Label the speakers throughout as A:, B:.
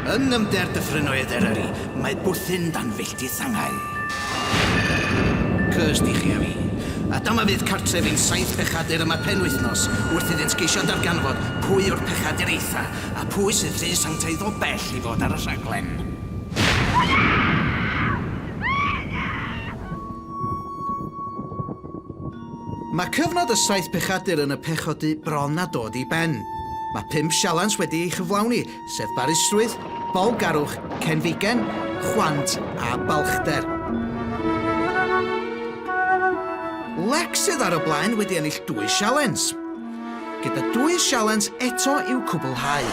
A: Yn nyfnder dyffrynoedd Eryri, mae bwthyn dan filltir sangau. Cursed i chi a fi. A dyma fydd cartref i'n saith pechadur yma penwythnos, wrth iddynt geisio darganfod pwy yw'r pechadur eitha, a phwy sydd rhy sanctaidd o bell i fod ar y rhaglen. Hwyl! Mae cyfnod y Saith Pechadur yn y Pechodu bron â dod i ben. Mae pump sialens wedi ei chyflawni, sef barusrwydd, bawlgarwch, cenfigen, chwant a balchder. Lex sydd ar y blaen wedi ennill dwy sialens, gyda dwy sialens eto i'w cwblhau.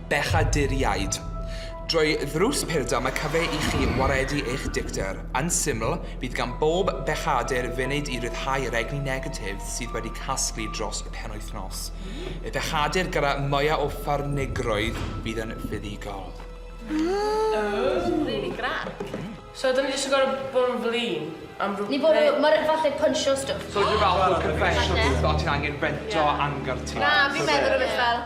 A: Bechaduriaid. Drwy ddrws Purdam y cyfe i chi waredu eich dicter. Yn syml, bydd gan bob bechadur funud i ryddhau yr egni negatif sydd wedi casglu dros y penwythnos. Y bechadur gyda mwya o ffyrnigrwydd fydd yn fuddugol. Ooh! Rili grac. So dyn ni jyst yn gor'o' bod yn flin am rw- Ni bwrw, ma' rei- falle punchio stwff. So rhyw fath o confessional booth o ti'n angen rento angerdd ti. Na fi'n meddwl rwbeth fel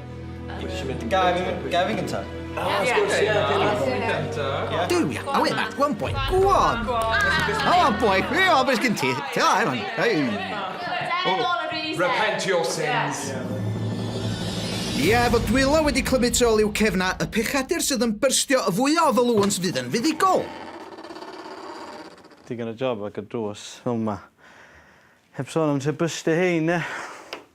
A: Gael fi gynta? Do we? Oh, wait, that's one point. Go on. Oh, one point. Hey, oh, beth gen ti? Ti'n dda, Evan? Hey. Repent your sins. Ie, yeah, fod dwylo wedi clymu tu ôl i'w cefna, y pechadur sydd yn byrstio y fwy o ofalwns fydd yn fuddigol. Digon o job ag y drws fel yma. Heb sôn am lle bystio hein, e?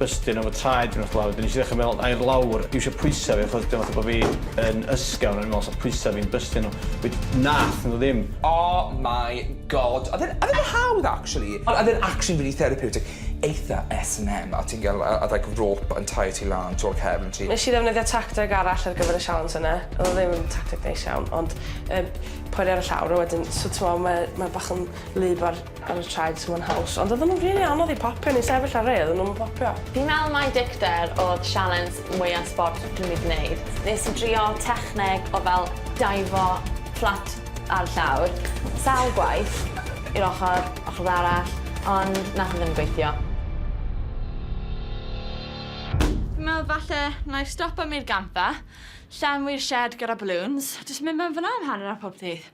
A: bystyn am y traed fi wrth lawr wedyn nes i ddechra meddwl air lawr dwi isio pwysa fi achos dyma fatha bo fi yn ysgafn o'n i'n meddwl sa pwysa fi'n bystyn o we- nath nhw ddim. Oh my God. Odd e'n odd e'n hawdd actually. Ond odd e'n actually rili therapeutic. Eitha S and M a ti'n ga'l yy odd like rope yn taio ti lan tu ol cefn ti. Nesh i ddefnyddio tacteg arall ar gyfer y sialens yna. Odd o ddim yn tacteg neis iawn ond yy poeri ar y llawr a wedyn so t'mo' ma' ma' bach yn wlyb ar ar y traed tu mewn haws, ond oedden nhw'n rili anodd i popio, o'n i'n sefyll ar rei oedden nhw'm yn popio. Fi'n meddwl mai dicter oedd sialens mwya sbort dwi 'di gwneud. Nes i drio techneg o fel daifo fflat ar llawr sawl gwaith, i'r ochr, ochr arall, ond nath e ddim gweithio. Fi'n meddwl falle na'i stopo am i'r gampfa, llenwi'r shed gyda balloons, jyst mynd mewn fan'na am hanner awr pob dydd.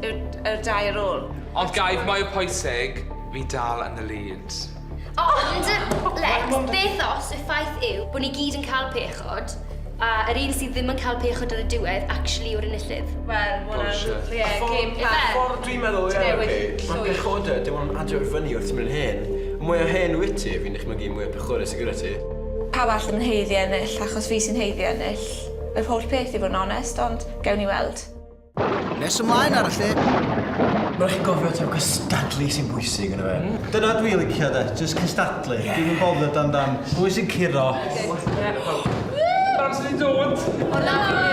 A: Y, y dau ar ôl. Ond gair mwy pwysig, fi dal yn y lead. Ond, Lex, beth os y ffaith yw bod ni gyd yn cael pechod, a yr un sydd ddim yn cael pechod ar y diwedd actually yw'r enillydd? Wel, ma' hwnna'n... Bullshit. Ie, game plan. Y ffordd dwi'n meddwl ie, ma' pechodau, dim ond adio i fyny wrth ti'n mynd yn hen. Y mwya hen wyt ti, fi'n dychmygu, y mwya pechorus sy gyda ti. Pawb arall ddim yn haeddu ennill, achos fi sy'n haeddu ennill yr holl peth i fod yn onest, ond gewn ni weld. Nes ymlaen ar y lle. Mae'n chi'n gofio taw cystadlu sy'n bwysig yn y fe. Mm. Dyna dwi licio de, just cystadlu. Yeah. Dwi'n bothered dan dan. Pwy sy'n curo? Pam sy'n dod? Hwna fi,